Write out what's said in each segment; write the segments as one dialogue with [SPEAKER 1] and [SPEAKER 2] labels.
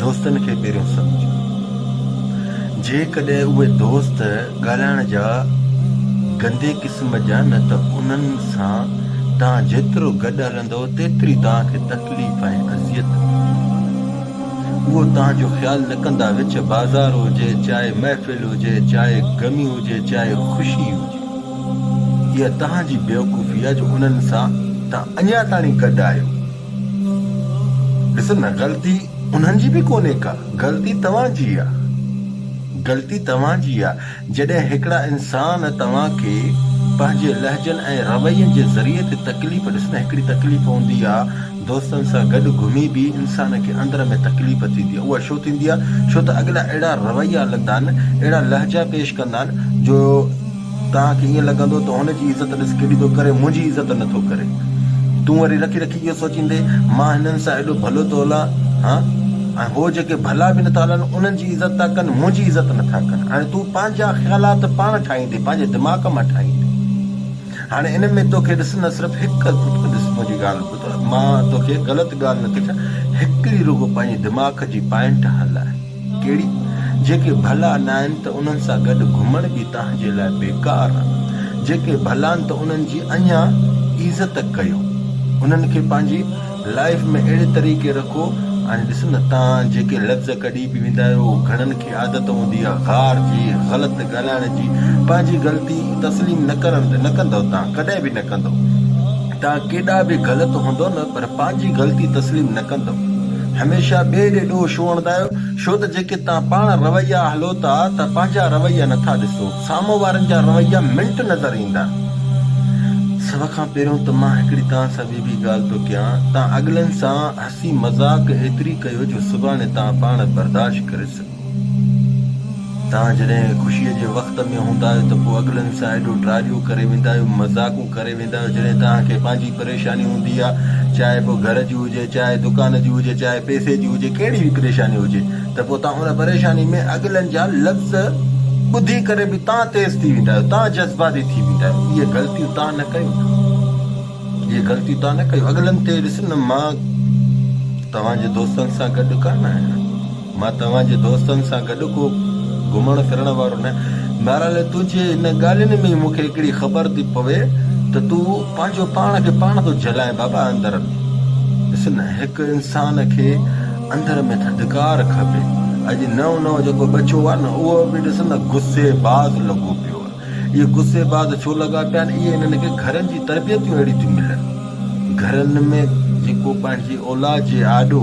[SPEAKER 1] دوستن کي پهريون سمجهو. جيڪڏهن اهي دوست ڳالهائڻ جا گندي قسم جا نه ته انهن سان توهان جيترو گڏ هلندو تيتري توهان کي تڪليف ۽ اذيت ملندي. اهو توهان جو خيال نه ڪندا وچ بازار هجي چاهي محفل هجي چاهي غمي هجي چاهي خوشي هجي. اها توهان جي بيوقوفي آهي جو انهن سان توهان اڃا تائين گڏ آهيو. ڏس نه غلطي انهن جي به ڪونهي ڪا غلطي توهان جي آ غلطي توهان جي آ جڏهن هڪڙا انسان توهان کي پنهنجي لهجن ۽ روين جي ذريعي تي تڪليف ڏس نه هڪڙي تڪليف هوندي آ دوستن سان گڏ گهمي به انسان کي اندر ۾ تڪليف ٿيندي آ اها ڇو ٿيندي آ ڇو ته اڳلا اهڙا رويا لندا آهن اهڙا لهجا پيش ڪندا آهن جو توهان کي ائين لڳندو ته هن جي عزت ڏس ڪيڏي ٿو ڪري، منهنجي عزت نه ٿو ڪري. تون وري رکي رکي اهو سوچيندين، مان هنن سان ايڏو ڀلو ٿو هلان ها ۽ هو جيڪي ڀلا به نٿا هلن، انهن جي عزت ٿا ڪن، منهنجي عزت نٿا ڪن. هاڻي تون پنهنجا خيالات پاڻ ٺاهيندين، پنهنجي دماغ مان ٺاهيندين. هاڻي ان ۾ توکي ڏس نه صرف هڪ ڪتو ڏس، منهنجي ڳالهه ٻڌ، مان توکي غلط ڳالهه نٿي ڪيان، هڪڙي رڳو پنهنجي دماغ جي پائنٽ هلاء. ڪهڙي؟ جيڪي ڀلا ناهن ته انهن سان گڏ گهمڻ به توهان جي لاء بيڪار آ. جيڪي ڀلان ته انهن جي اڃا عزت ڪيو. انهن کي پنهنجي لائف ۾ اهڙي طريقي رکو. هاڻي ڏس نه توهان جيڪي لفظ ڪڍي به ويندا آهيو اهو گهڻن کي عادت هوندي آ غار جي، غلط ڳالهائڻ جي. پنهنجي غلطي تسليم نه ڪرڻ نه ڪندؤ توهان ڪڏهن به نه ڪندؤ. توهان ڪيڏا به غلط هوندؤ نه. پر پنهنجي غلطي تسليم نه ڪندؤ. هميشه ٻئي ڏي ڏوهه ڇو هڻندا آهيو؟ ڇو ته جيڪي توهان پاڻ رويا هلو ٿا ته پنهنجا رويا نه ٿا ڏسو. سامهون وارن جا رويا منٽ نظر ايندا. سڀ کان پهريون ته مان هڪڙي توهان سان ٻي به ڳالهه ٿو ڪيان. توهان اڳلن سان هسي مذاق ايتري ڪيو جو سڀاڻي توهان پاڻ برداشت ڪري سگهو. توهان جڏهن خوشيء جي وقت ۾ هوندا آهيو ته پوء اڳلن سان ايڏو ٽراڏيون ڪري ويندا آهيو، مذاقون ڪري ويندا آهيو، جڏهن توهان کي پنهنجي پريشاني هوندي آهي، چاهي پوء گهر جي هجي، چاهي دڪان جي هجي، چاهي پئسي جي هجي، ڪهڙي به پريشاني هجي ته پوء توهان ان پريشاني ۾ اڳلن جا لفظ ٻڌي ڪري به توهان تيز ٿي ويندا آهيو، توهان جذباتي ٿي ويندا آهيو. اهي غلطيون توهان نه ڪيو. اهي غلطيون توهان نه ڪيو. اڳلن تي ڏس نه مان توهان جي دوستن سان گڏ ڪانه آهيان. مان توهان جي دوستن سان گڏ ڪو گهمڻ ڦرڻ وارو نه آهيان. ميراله، تنهنجي ان ڳالهين ۾ ئي مون کي هڪڙي خبر ٿي پوي ته تون پنهنجو پاڻ کي پاڻ ٿو جهلائين. بابا اندر ۾. ڏس نه، هڪ انسان کي اندر ۾ ٿڌڪار کپي. اڄ نئون نئون جيڪو ٻچو آهي نه، اهو به ڏس نه غصي باز لڳو پيو آهي. اهي غصي باز ڇو لڳا پيا آهن؟ اهي انهن کي گهرن جي تربيتون اهڙيون ٿيون ملن. گهرن ۾ جيڪو پنهنجي اولاد جي آڏو.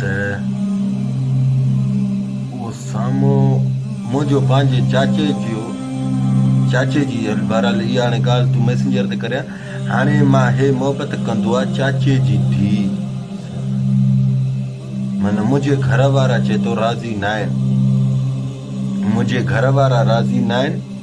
[SPEAKER 1] ته اهو سامو منهنجو پنهنجي چاچي جيو چاچي جي هل بهرحال اها هاڻي ڳالهه تون ميسنجر تي ڪريان هاڻي مان هي محبت ڪندو آ چاچي جي ڌي سان من منهنجي گهر وارا چي تو راضي ناهن منهنجي گهر وارا راضي ناهن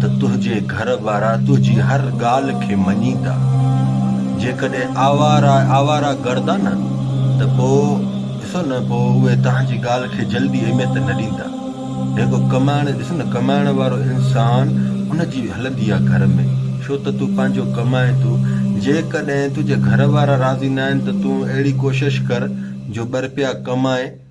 [SPEAKER 1] ته تنهنجي گهر وارا تنهنجي هر ڳالهه کي مڃيندا. جيڪڏهن آواره آواره گرد آ نه ته پوء ڏسو نه پوء اهي تنهنجي ڳالهه کي جلدي اهميت نه ڏيندا. جيڪو ڪمائڻ ڏس نه ڪمائڻ وارو انسان ان جي هلندي آ گهر ۾ ڇو ته تون پنهنجو ڪمائين ٿو. جيڪڏهن تنهنجي گهر وارا راضي نه آهن ته تون اهڙي ڪوشش ڪر جو ٻه رپيا ڪمائين.